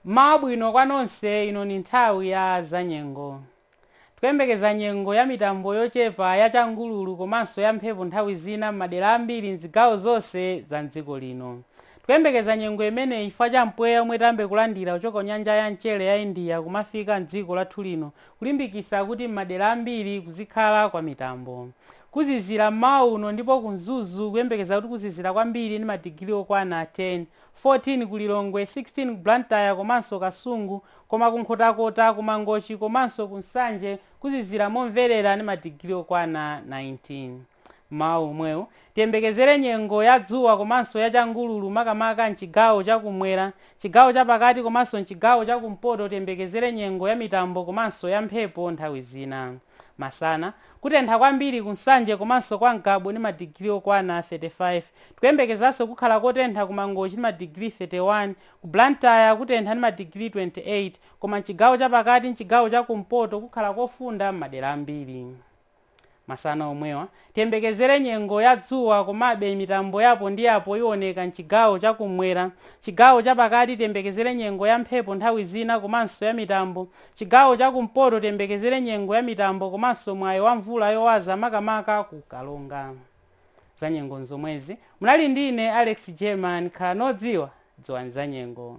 Mmawa wabwino kwa nonse ino ni nthawi ya zanyengo. Tikuyembekeza nyengo ya mitambo yochepa, ya changululu komanso ya mphepo nthawi zina m'madera ambiri m'zigawo zonse za m'dziko lino. Tikuyembekeza nyengo imeneyi chifukwa cha mpweya omwe tiyambe kulandira kuchoka kunyanja ya mchere ya India kumafika m'dziko lathu lino kulimbikisa kuti m'madera ambiri kuzikhala kwa mitambo. Kuzizira mmawa uno ndipo ku Mzuzu kuyembekeza kuti kuzizira kwambiri ndi madigiri okwana 10. 14 ku Lilongwe, 16 ku Blantyre komanso Kasungu koma ku Nkhotakota, ku Mangochi komanso ku Nsanje kuzizira momverera ndi madigiri okwana 19. Mmawa womwewu, tiyembekezere nyengo ya dzuwa komanso ya changululu makamaka m'chigawo cha kumwera, chigawo cha pakati komanso m'chigawo cha kumpoto tiyembekezere nyengo ya mitambo komanso ya mphepo nthawi zina. Masana, kutentha kwambiri ku Nsanje komanso kwa Ngabu ndi madigiri okwana 35. Tikuyembekezanso kukhala kotentha ku Mangochi ndi madigiri 31. Ku Blantyre kutentha ndi madigiri 28. Koma m'chigawo chapakati ndi chigawo cha kumpoto kukhala kofunda m'madera ambiri. Masana omwewa, Tiyembekezere nyengo ya dzuwa komabe mitambo ya apo ndi apo iwoneka m'chigawo cha kummwera. Chigawo cha pakati tiyembekezere nyengo ya mphepo nthawi zina komanso ya mitambo. Chigawo cha kumpoto tiyembekezere nyengo ya mitambo komanso mwayi wa mvula yowaza makamaka ku Karonga. Zanyengo n'zomwezi. Munali ndi ine Alex German. Khalani odziwa. Dziwani zanyengo.